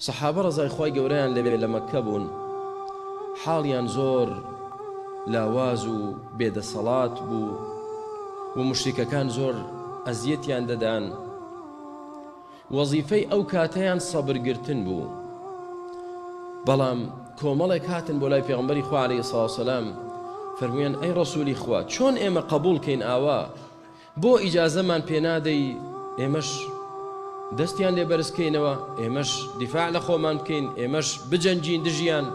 سەحابە ڕەزای خوای گەورەیان لێبێ لە مەککە بوون حاڵیان زۆر لاواز و بێ دەسەڵات بوو و موشریکەکان زۆر ئەزیەتیان دەدان وەزیفەی ئەو کاتەیان سەبر گرتن بوو بەڵام کۆمەڵێک هاتن بۆ لای پێغمبەری خوا علیه الصلاة والسلام فەرموویان ئەی ڕەسوولی خوا چۆن ئێمە قبول کەین ئاوا بۆ ئیجازەمان پێ نادەی ئێمەش دەستیان لێ بەرز کەینەوە ئێمەش دیفاع لە خۆمان بکەین ئێمەش بجەنگین دژیان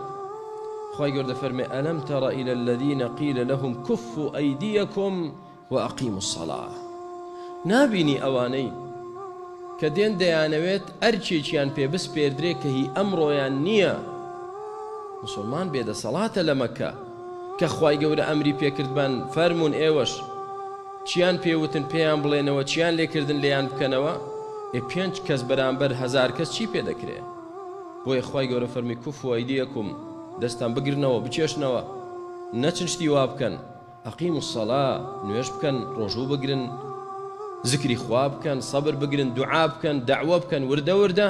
خوای گەوردە فەرمێ ئەلەم تەڕە ئیلە الذین قیل لهم کفوا ئەیدیەکم وأقیموا الصلاة نابینی ئەوانەی کە دێن دەیانەوێت ئەرکێکیان پێ بسپێردرێ کە هی ئەمڕۆیان نییە موسڵمان بێدەسەڵاتە لە مەککە کە خوای گەورە ئەمری پێ کردبان فەرموون ئێوەش چیان پێ وتن پێیان بڵێنەوە چیان لێ کردن لێیان بکەنەوە ئێ پێنج کەس بەرامبەر هەزار کەس چی پێ دەکرێ بۆیە خوای گەورە فەرمی کوفو ایدیکم دەستان بگرنەوە بکێشنەوە نەچن شتی وا بکەن اقیمو الصلاە نوێژ بکەن ڕۆژوو بگرن زکری خوا بکەن سەبر بگرن دوعا بکەن دەعوە بکەن وردە وردە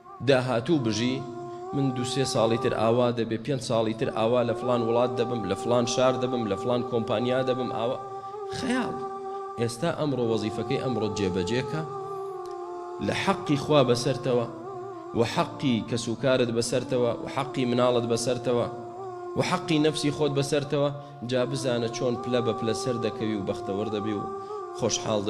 داهاتوو بژی من دوو سێ ساڵی تر ئاوا دەبێ پێنج ساڵی تر ئاوا لە فڵان وڵات دەبم لە فڵان شار دەبم لە فڵان کۆمپانیا دەبم ئاوا خەیاڵ ئێستا ئەمڕۆ وەزیفەکەی ئەمڕۆت جێبەجێ کە لە حەقی خوا بەسەرتەوە و حەقی کەسوکارت بەسەرتەوە و حەقی مناڵت بەسەرتەوە و حەقی نەفسی خۆت بەسەرتەوە جا بزانە چۆن پلە بە پلە سەر دەکەوی و بەختەوەر دەبی و خۆشحاڵ دەبی.